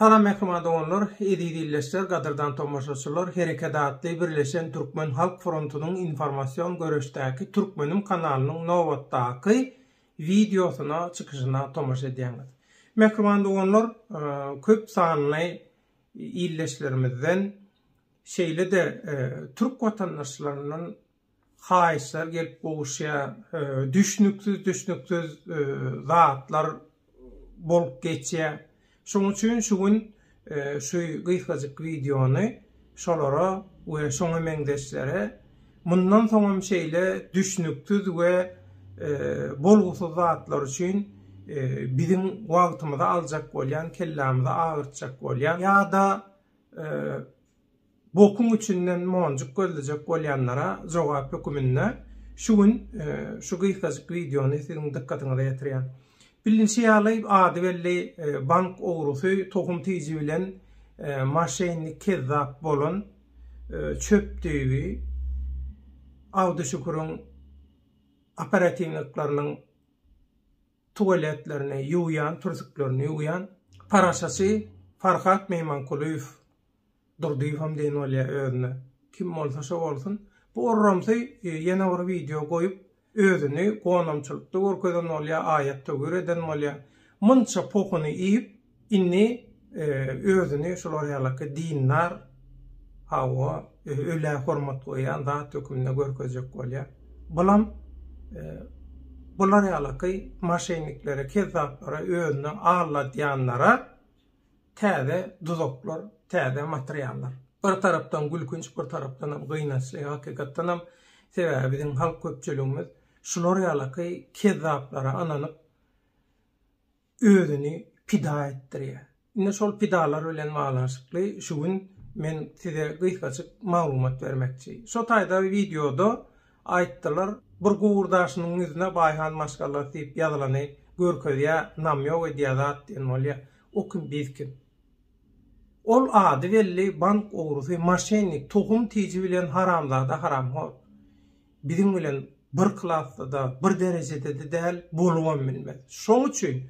Salam mehriban doganlar, eziz illeşler, gadyrdan tomaşaçylar, Hereket atly birleşen türkmen halk frontunyň informasion göreşdäki Türkmenim kanalynyň nobatdaky wideosyna çykyşyna tomaşa edýäňiz. Mehriban doganlar, e, köp sanly ildeşlerimizden, şeýle-de türk watandaşlaryndan haýyşlar gelip gowuşýar, düşnüksiz-düşnüksiz zatlar bolup geçýär. Şonuň üçin şu gün şu gysgajyk wideony şolara we şoňa meňzeşlere Mundan soňam şeýle düşnüksiz we bolgusyz zatlar üçin biziň wagtymyzy aljak bolýan, kellämizi agyrtjak bolýan ýa-da bokuň içinden monjuk gözlejek bolýanlara jogap höküminde şu gün şu gysgajyk wideony siziň dykgatyňyza ýetirýän. Bilinişi ýaly, ady belli bank ogrusy, tohum tiji bilen moşennik, kezzap bolan çöp düýbi Abduşüküriň operatinlikleriniň tuwaletlerini ýuwýan, türsüklerini ýuwýan. Paraşaçy Farhat Meýmankulyýew Durdyýewem diýen bolýar özüne. Kim bolsa şo bolsun. Bu orramsy ýene bir wideo goýup, Özüni gonamçylykda görkezen bolýa, aýatda gür eden bolýa. Munça pohuny iýip, indi özüni şular ýalaky dindar, hawa, ölä hormat goýýan zat höküminde görkezjek bolýa. Bulam bular ýalaky maşenniklere, kezzaplara, özüni alladýanlara Täze duzaklar, täze materiallar. Bir tarapdan gülkünç, bir tarapdanam gynançly, hakykatdanam. Sebäbi biziň halk köpçüligimiz şular ýalaky kezzaplara ynanyp, özüni pida etdirýär. Indi şol pidalar bilen baglanyşykly şu gün men size gysgaçyk maglumat bermekçi. Şo taýda wideoda Aýtdylar, bir gowurdaşynyň ýüzüne Baýhan maşgalasy diýip ýazylany görkezýä, namýok edýä zat diýen bolýa. O kim, biz kim? Ol ady belli bank ogrusy, moşennik, tohum tiji bilen haramzada haramhor. Biziň bilen bir klasda-da, bir derejedede däl, bolubam bilmez. Şoň üçin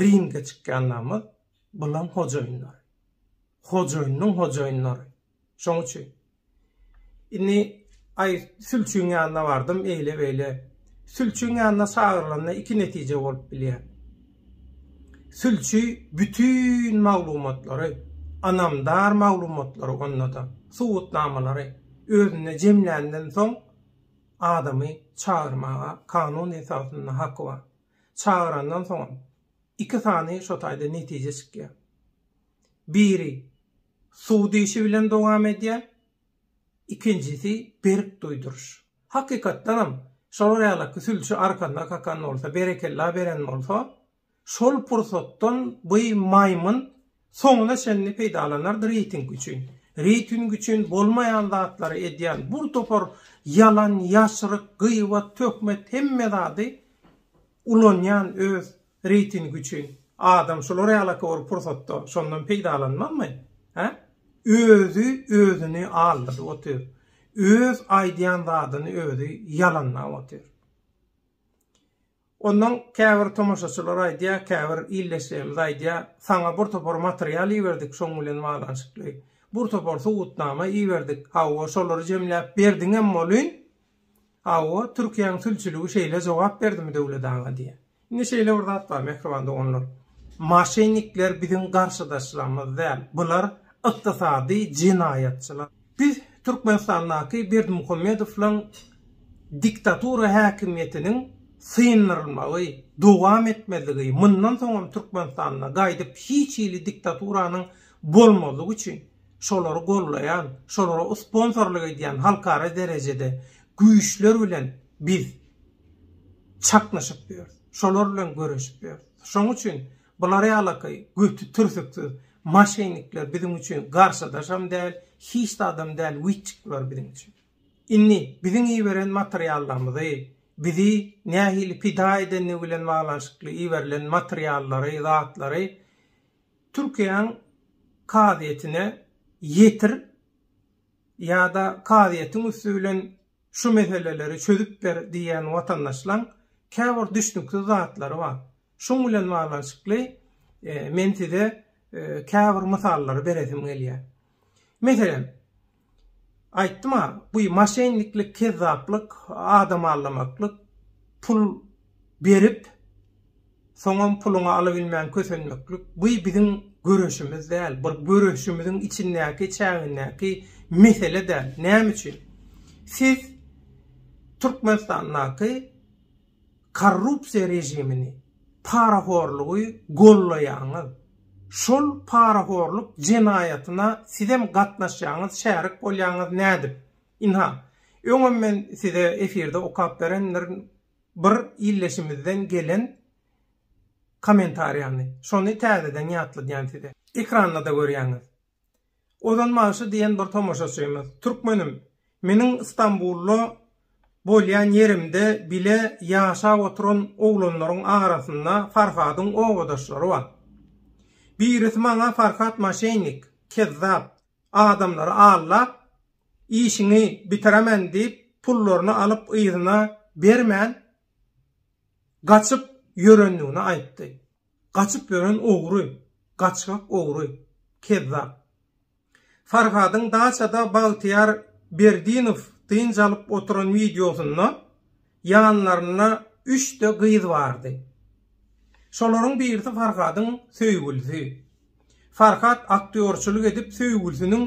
Ringde çykýanlarymyz bulam hojaýynlary. Hojaýynyň hojaýynlary. Şoň üçin. Indi aý sülçüň ýanyna bardym eýle beýle. Sülçüň ýanyna çagyrylanda iki netije bolup bilýär. Sülçi bütin maglumatlary, anamdar maglumatlary onda-da, subutnamalary özünde jemländen soň adamy çagyrmaga kanun esasynda haky bar. çagyrandan soňam iki sany şo taýda netije çykýar. Biri suw diýşi bilen dowam edýär, ikinjisi berk duýduryş. Hakykatdanam, şolar ýalaky sülçi arkanda kakan bolsa, berekella beren bolsa, şol pursatdan bu maýmyn Soňuna çenli peýdalanardy reýting üçin. Reýting üçin bolmaýan zatlary edýän bur topar ýalan ýaşryk gyýbat töhmet hemme zady ulanýan öz reýting üçin. Adam şular ýalaka bir pursatda şondan peýdalanmazmy? Hä? Özi özüni aldadyp otyr. Öz aýdýan zadyny özi ýalanlap otyr. Ondan käbir tomaşaçylar aýdýar, käbir ildeşlerimiz aýdýar, saňa bir topar material iberdik şoň bilen baglanyşykly, bir topar subutnama iberdik, hawa, şolary jemläp berdiňem welin, hawa, Türkiýäň sülçüligi şeýle jogap berdimi Döwlet aga diýýär. Indi şeýle bir zat bar, mähriban doganlar, maşennikler biziň garşydaşlarymyz däl, bular ykdysady jenaýatçylar. Biz Türkmenistandaky Berdimuhamedowlaň diktatura häkimiýetiniň syndyrylmagy, dowam etmezligi, mundan soňam Türkmenistanda gaýdyp hiç hili diktaturanyň bolmazlygy üçin şolary goldaýan, şolara usponsorlyk edýän halkara derejede güýçler bilen biz çaknyşyp ýörüs, şolar bilen göreşip ýörüs. Şonuň üçin Bular ýalaky göti türsüksiz maşennikler biziň üçin garşydaşam däl, hiç zadam däl witçik bular biziň üçin. Indi biziň iberen materiallarymyzy, bizi nähili pida edendigi bilen baglanyşykly iberilen materiallary, zatlary Türkiýäň kazyýetine ýetir ýa-da kazyýetiň üsti bilen şu meseleleri çözüp ber diýýän watandaşlaň käbir düşnüksiz zatlary bar. Şuň bilen baglanyşykly men size käbir mysallary beresim gelýär. Meselem, aýtdym-a, bu maşenniklik, kezzaplyk, adam aldamaklyk, pul berip, soňam puluňy alabilmän kösenmeklik, bu biziň göreşimiz däl, bir göreşimiziň içindäki, çägindäki mesele däl. Näme üçin? Siz Türkmenistandaky korrupsiýa režimini, parahorlugy gollaýaňyz, şol parahorluk jenaýatyna sizem gatnaşýaňyz şärik bolýaňyz nädip? Ynha, öňem men size efirde okap berendirin bir illeşimizden gelen kommentariýany, şony täzeden ýatladýan size. Ekranda-da görýäňiz. Ozan bagşy diýen bir tomaşaçymyz, Türkmenim, meniň Stambulda bolýan ýerimde bile ýaşap oturan oglanlaryň arasynda Farhadyň obadaşlary bar. Birisi maňa Farhat maşennik, kezzap, adamlary aldap, işiňi bitiremen diýip, pullaryny alyp yzyna bermän gaçyp ýörendigini aýtdy. Gaçyp ýören ogry, gaçgak ogry, kezzap. Farhadyň daçada Bagtyýar Berdinow dynç alyp oturan wideosynda ýanlarynda üçde gyz bardy. Şolaryň birisi Farhadyň söýgülisi. Farhat aktýorçylyk edip söýgülisiniň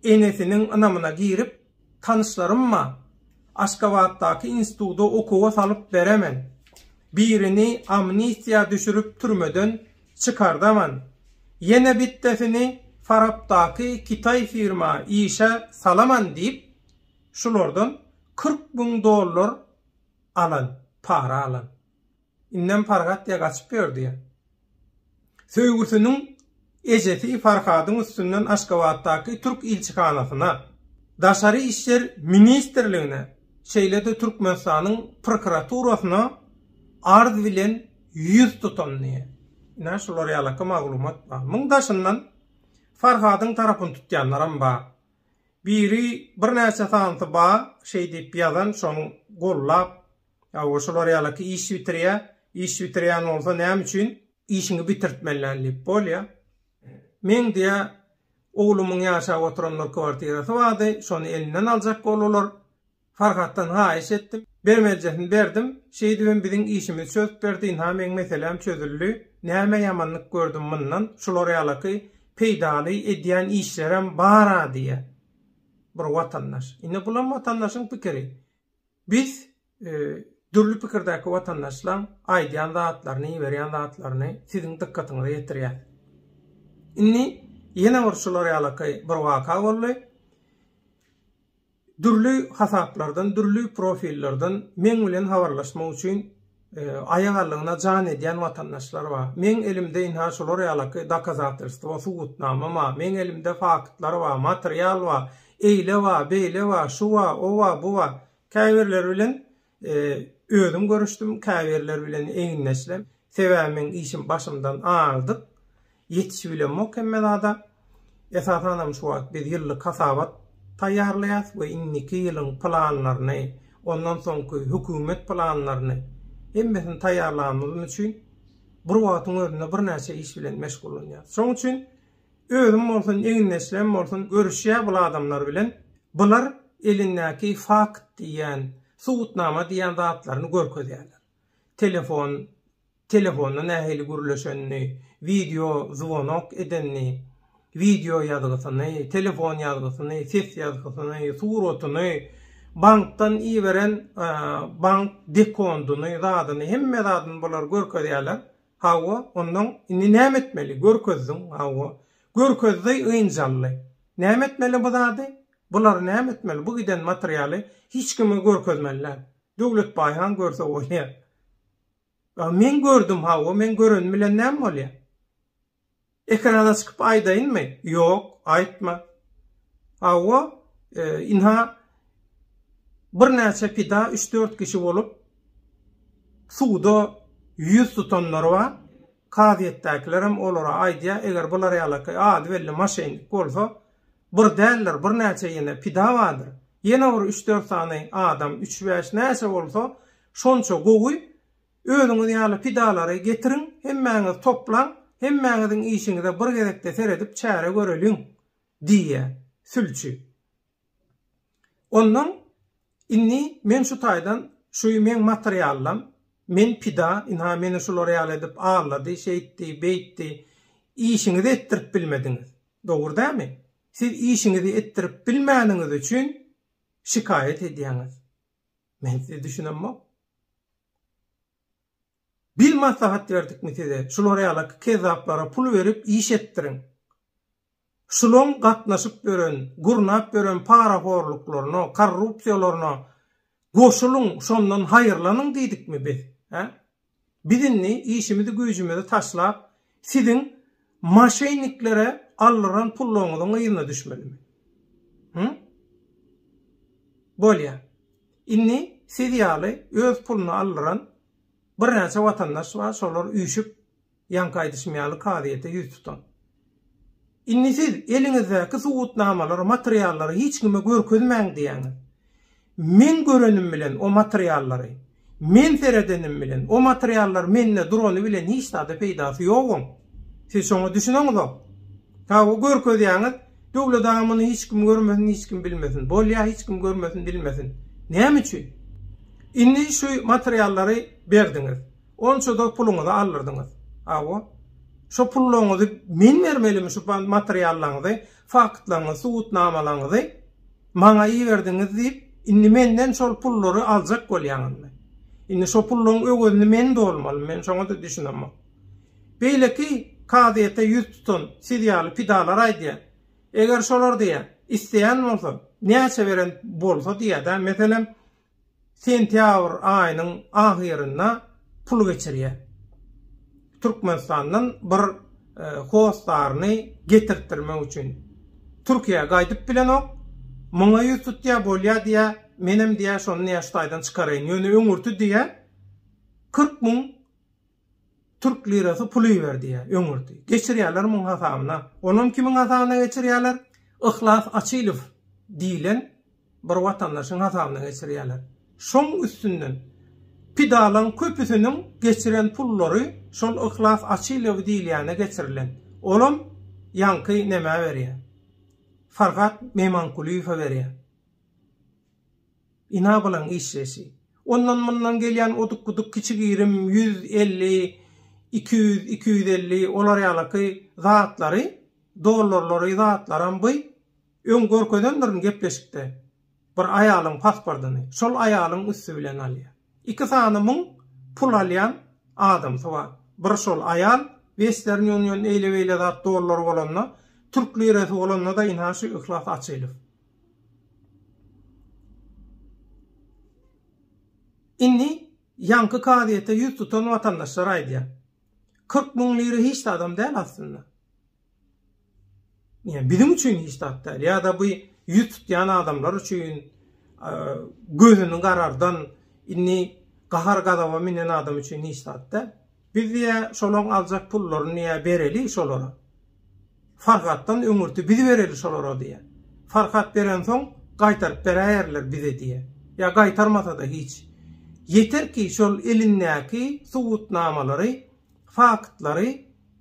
enesiniň ynamyna girip, tanyşlarymma Aşgabatdaky instituda okuwa salyp beremen. Birini amnistiýa düşürip türmeden çykardaman. Ýene bitdesini Farapdaky Kitaý firma işe salaman diýip, şulardan kyrk müň dollar alan, para alan. Indem Farhat diýe gaçyp ýördi. Söýgüsiniň ejesi Farhadyň üstünden Aşgabatdaky türk ilçihanasyna, Daşary işler ministrligine, şeýle-de Türkmenistanyň prokuraturasyna arz bilen ýüz tutandy. Ine, şular ýalaka maglumat bar. Muň daşyndan Farhadyň tarapyny tutýanlaram bar. Biri birnäçe sanysy bar, şeý diýip ýazan, şony gollap, Hawa, şular ýaly ki, iş bitirýä, iş bitirýän bolsa näme üçin? Işiňi bitirtmelän diýip bolýa. Meň diýä, oglumyň ýaşap oturanlar kwartirasy bardy, şony elinden aljak boldular. Farhatdan haýyş etdim. Bermelijesini berdim. Şeýdibem biziň işimizi çözüp berdi, ynha meň meseläm çözüldi. Näme ýamanlyk gördüm mundan? Şular ýaly ki, peýdaly edýän işlerem bar-a diýä bir watandaş. Ine bulam watandaşyň pikiri. Biz dürli pikirdäki watandaşlaň aýdýan zatlaryny, iberýän zatlaryny siziň dykgatyňyza ýetirýäs. Indi ýene bir şular ýalaky bir waka boldy. Dürli hasaplardan, dürli profillerden meň bilen habarlaşmak üçin Aýagallygyna jan edýän watandaşlar bar. Meň elimde ynha şular ýalaky dokazatrstwo, subutnama bar. Meň elimde faktlar bar, material bar. Eýle bar, beýle bar, şu bar, o bar, bu bar. Käbirleri bilen özüm görüşdim, käbirleri bilen egindeşler. Sebäbi meň işim başymdan aýrdyk. Ýetişi bilemok hemme zada. Esasanam şu wagt biz ýyllyk hasabat taýýarlaýas we indiki ýylyň planlaryny, ondan soňky hökümet planlaryny hemmesini taýýarlanymyz üçin bir wagtyň özünde birnäçe iş bilen meşgullanýas. Şoň üçin özüm bolsun, egindeşlerim bolsun görüşýä bul adamlar bilen. Bular elindäki fakt diýýän, subutnama diýýän zatlaryny görkezýärler. Telefon Telefonda nähili gürleşenini, wideo zwonok edenini, wideo ýazgysyny, telefon ýazgysyny, ses ýazgysyny, suratyny, bankdan iberen bank dekondyny, zadyny, hemme zadyny bular görkezýärler. Hawa, onnoň indi näme etmeli? Görkezdiň, hawa. Görkezdi, ynjy aldy. Näme etmeli bu zady? Bulary näme etmeli? Bu giden materialy hiç kime görkezmeli däl. Döwletbaý han görse bolýar. A men gördüm hawa men görenim bilen näme bolýa? Ekrana çykyp aýdaýynmy? Ýok, aýtma. Hawa, ynha birnäçe pida üç-dört kişi bolup suwda ýüz tutanlar bar. Kazyýetdäkilerem olara aýdýa, eger bular ýalakaý az belli maşennik bolsa, bir däldir, birnäçe ýene pida bardyr. Ýene bir üç-dört sany adam, üç-bäş näçe bolsa, Şonça gowy, özüňiz ýaly pidalary getiriň, hemmäňiz toplaň, hemmäňiziň işiňize bir gezekde seredip çäre göreliň, diýýär sülçi. Ondan Indi men şu taýdan, şu meň materiallam, men pida, ynha meni şular ýaly edip allady, şeýtdi, beýtdi. Işiňizi etdirip bilmediňiz. Dogry dämi? Siz işiňizi etdirip bilmäniňiz üçin şikaýat edýäňiz. Men size düşünemok. Bil maslahat berdikmi size? Şular ýaly kezzaplara pul berip iş etdiriň. Şulaň gatnaşyp ýören, gurnap ýören parahorluklaryna, korrupsiýalaryna goşulyň, şondan haýyrlanyň diýdikmi biz? He? Biz indi işimizi güýjümizi taşlap siziň maşenniklere aldyran pullaryňyzyň yzyna düşmelimi? Hü? Bolýa. Indi siz ýaly öz puluna aldyran birnäçe watandaş bar şolar üýşüp Ýaňky aýdyşym ýaly kazyýete ýüz tutuň. Indi siz eliňizdäki subutnamalary, materiallary hiç kime görkezmäň diýýäňiz. Meň görenim bilen o materiallary, men seredenim bilen o materiallar mende durany bilen hiç zada peýdasy ýoguň. Siz şoňa düşüneňizok. Hawa, görkezýäňiz, Döwlet aga muny hiç kim görmesin, hiç kim bilmesin. Bolýa, hiç kim görmesin, bilmesin. Näme üçin? Indi şu materiallary berdiňiz. Onça-da puluňyzy aldyrdyňyz. Hawa. Şo pullaryňyzy men bermelimi şu materiallaryňyzy, faktlaryňyzy, subutnamalaryňyzy maňa iberdiňiz diýip, indi menden şol pullary aljak bolýaňyzmy? Indi şo pullaryň öwezini men dolmalymy? Men şoňa-da düşünemok. Beýleki kazyýete ýüz tutan siz ýaly pidalar aýdýar. Eger şolar diýýär, isleýän bolsa, näçe beren bolsa diýýär-dä. Meselem, sentýabr aýynyň ahyrynda pul geçirýär. Türkmenistandan bir hostaryny getirtdirmek üçin. Türkiýä gaýdyp bilenok. Muňa ýüz tutýar, bolýar diýýär. Menem diýýär, şony näşe taýdan çykaraýyn. Ýöne öňürti diýýär, kyrk müň Türk lirasy pul iber diýýä öňürti. Geçirýäler muň hasabyna. Onam kimiň hasabyna geçirýäler? Yhlas Açylow diýilen bir watandaşyň hasabyna geçirýäler. Şoň üstünden pidalaň köpüsiniň geçiren pullary şol Yhlas Açylow diýilýäne geçirilen. Olam ýaňky nämä berýä? Farhat Memankulyýewe berýä. Inabalaň işleýşi. Ondan-mundan gelýän oduk-buduk kiçi-girim ýüz elli, iki ýüz, iki ýüz elli olar ýalaky zatlary, dollarlary, zatlaram by öň görkezendirin gepleşikde bir aýalyň pasportyny şol aýalyň üsti bilen alýar. Iki sany müň pul alýan adamsy bar. Bir şol aýal western ýunýon eýle-beýle zat dollary bolanda, türk lirasy bolanda-da ynha şu Yhlas Açylow. Indi ýaňky kazyýete ýüz tutan watandaşlar aýdýar. Kyrk müň lira hiç zadam däl aslynda. Ýa biziň üçin hiç zat däl, ýa-da bu ýüz tutýan adamlar üçin gözüni garardan, indi gahar-gazaba münen adam üçin hiç zat däl. Biz diýä şolaň aljak pullaryny diýä bereli şolara. Farhatdan öňürti biz bereli şolara diýä. Farhat berensoň gaýtaryp beräýerler bize diýä. Ýa gaýtarmasa-da hiç. Ýeter ki şol elindäki subutnamalary, faktlary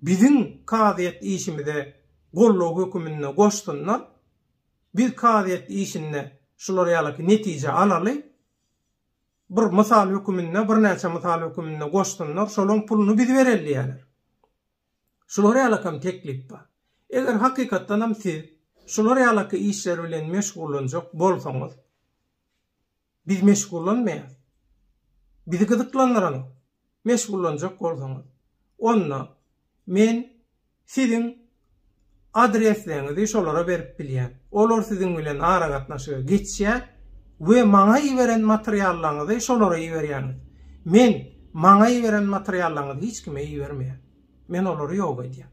biziň kazyýet işimize goldaw höküminde goşsunlar. Biz kazyýet işinde şular ýalyky netije alaly. Bir mysal höküminde, birnäçe mysal höküminde goşsunlar, şolaryň puluny biz bereli diýerler. Şular ýalakam teklip bar. Eger hakykatdanam siz şular ýalaka işler bilen meşgullanjak bolsaňyz, biz meşgullanmaýarys. Bizi gyzyklandyranok. meşgullanjak bolsaňyz, onda men siziň adresleňizi şolara berip bilýän. Olar siziň bilen aragatnaşyga geçýär we maňa iberen materiallaňyzy şolara iberýäňiz. Men maňa iberen materiallaňyzy hiç kime ibermeýän. Men olary ýok edýän.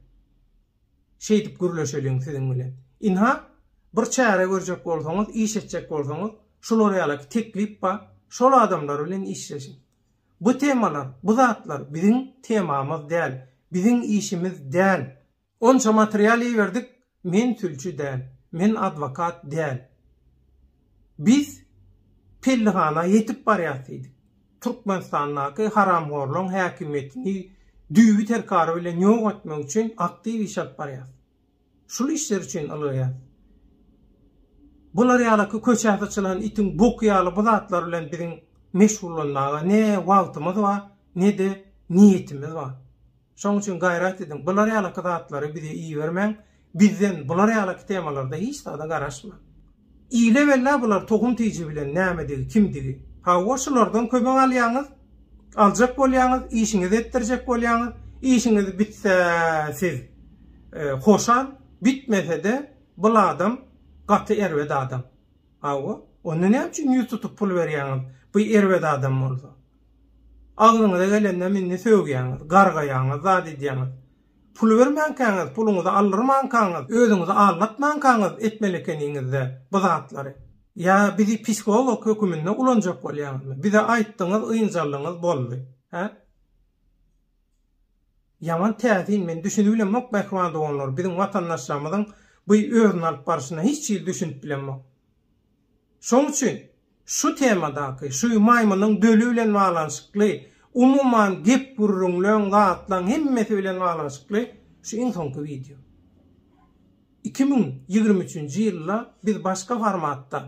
Şeýdip gürleşeliň siziň bilen. Ynha, bir çäre görjek bolsaňyz, iş etjek bolsaňyz, şular ýalaky teklip bar, şol adamlar bilen işleşiň. Bu temalar, bu zatlar biziň temamyz däl, biziň işimiz däl. Onça material iberdik, men sülçi däl, men adwokat däl. Biz pellihana ýetip barýas diýdik. Türkmenistandaky haramhorlaryň häkimiýetini düýbi-terkary bilen ýok etmek üçin aktiw iş alyp barýas. Şul işler üçin ylgaýas. Bular ýalaky köçä syçylan itiň boky ýaly bu zatlar bilen biziň meşgullanmaga ne wagtymyz bar, ne-de niýetimiz bar. Şoň üçin gaýrat ediň, bular ýalaky zatlary bize ibermäň, bizden bular ýalaky temalarda hiç zada garaşmaň. Ile bella bular tohum tiji bilen nämedigi kimdigi. Hawa şulardan kömek alýaňyz, aljak bolýaňyz, işiňizi etdirjek bolýaňyz, işiňiz bitse siz hoşal, bitmesede bul adam gaty erbet adam. Hawa onda näme üçin ýüz tutup pul berýaňyz bu erbet adam bolsa. Agzyňyza gelendem indi sögýäňiz, gargaýaňyz zat edýäňiz. Pul bermänkäňiz, puluňyzy aldyrmankaňyz, özüňizi aldatmankaňyz etmeli ekeniňiz-dä bu zatlary. Ýa bizi psiholog höküminde ulanjak bolýaňyzmy? Bize aýtdyňyz, ynjaldyňyz, boldy. Hä? Ýaman täsin, men düşünip bilemok, mähriban doganlar, biziň watandaşlarymyzyň bu özüni alyp barşyna hiç hili düşünip bilemok. Şoň üçin şu temadaky, şu maýmynyň döli bilen baglanyşykly, umuman gep-gürrüňleň, zatlaň hemmesi bilen baglanyşykly şu iň soňky wideo. Iki müň ýigrimi üçünji ýylda biz başga formatda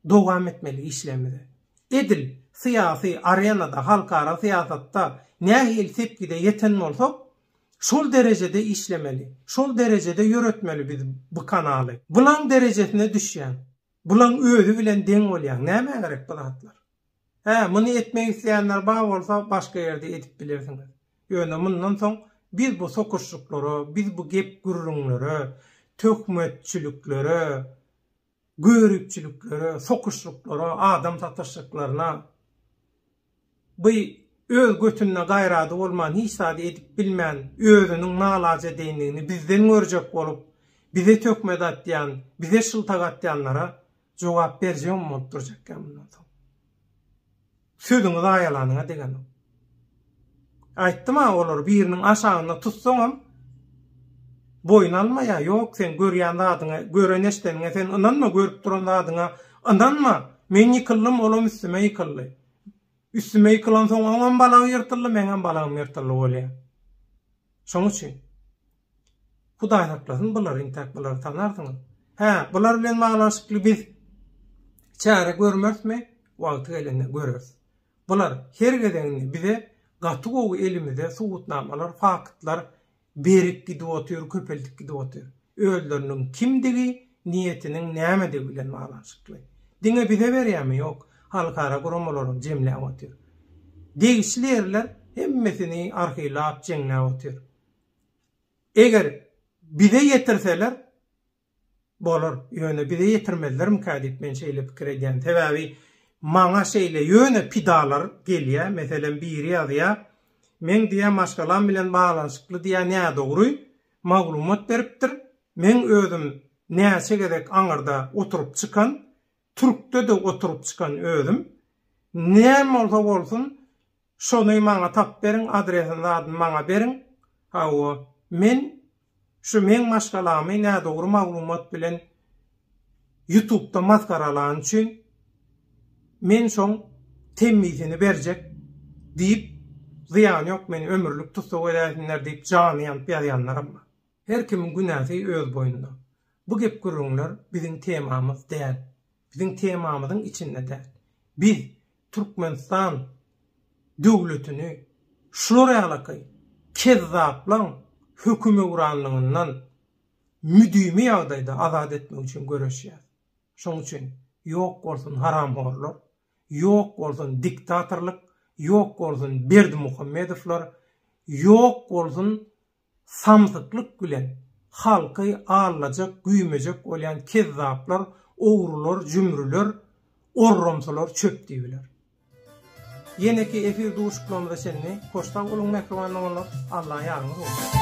dowam etmeli işlerimize. Edil syýasy arenada, halkara syýasatda nähili sepgide ýeten bolsak, Şol derejede işlemeli, şol derejede ýöretmeli biz bu kanaly. Bulaň derejesine düşýäň. Bulaň özi bilen deň bolýaň. Nämä gerek bu zatlar? Hä, muny etmek isleýänler bar bolsa, başga ýerde edip bilersiňiz. Ýöne mundan soň biz bu sokuşyklara, biz bu gep-gürrüňlere, töhmetçiliklere göripçiliklere, sokushyklara, adam satyshyklarna by öz götünde gaýrady bolman hiç zady edip bilmän özüniň nalajedeýndigini bizden görjek bolup bize töhmet atýan, bize shyltak atýanlara jogap berjegem bolup durjak ýa mundan soň. Sözüňi zaýalanyňa degenok. Aýtdym-a olary biriniň aşagynda tutsaňam boýun almaýar. Ýok, sen görýän zadyňa, gören-eşdeniňe sen ynanma, görüp duran zadyňa ynanma. Men ýykyldym, olam üstüme ýykyldy. Üstüme ýykylansoň oňam balagy ýyrtyldy, meňem balagym ýyrtyldy bolýar. Şoň üçin Hudaý saklasyn bular intäk bulary tanarsyňyz. Hä bular bilen baglanyşykly biz çäre görmersmi wagty gelende göreris. Bular her gezeginde bize gaty gowy elimize subutnamalar faktlar berip gidip otyr köpeldip gidip otyr. Özleriniň kimdigi niýetiniň nämedigi bilen baglanyşykly. Diňe bize berýärmi ýok halkara guramalaram jemläp otyr. Degişli ýerler hemmesini arhiwlap jeňläp otyr. Eger bize ýetirseler, bolar, ýöne bize ýetirmezlermikä diýip men şeýle pikir edýän. Sebäbi maňa şeýle ýöne pidalar gelýär, meselem biri ýazýar, meň diýýär maşgalam bilen baglanyşykly diýýär nädogry maglumat beripdir, meň özüm näçe gezek aňyrda oturyp çykan, Türkde-de oturyp çykan özüm. Näme bolsa bolsun, şony maňa tapyp beriň, adresini zadyny maňa beriň. Hawa, men şu meň maşgalamy nädogry maglumat bilen Ýutubda masgaralany üçin, men şoň temmisini berjek diýip, zyýany ýok, meni ömürlik tussag edäýsinler diýip jany ýanyp ýazýanlaram bar. Her kimiň günäsi öz boýnunda. Bu gep-gürrüňler biziň temamyz däl. Biziň temamyzyň içinde däl. Biz Türkmenistan döwletini şular ýalaky kezzaplaň hökümewranlygyndan müdimi ýagdaýda azat etmek üçin göreşýäs. Şoň üçin ýok bolsun haramhorlar, ýok bolsun diktatorlyk, ýok bolsun Berdimuhamedowlar, ýok bolsun Samsyklyk bilen halky allajak, güýmejek bolýan kezzaplar, ogrular, jümrüler, orromsolar çöp diýibiler. Ýeneki efir duşuklamyza çenli hoş sag boluň mähriban doganlar, Alla ýaryňyz bolsun!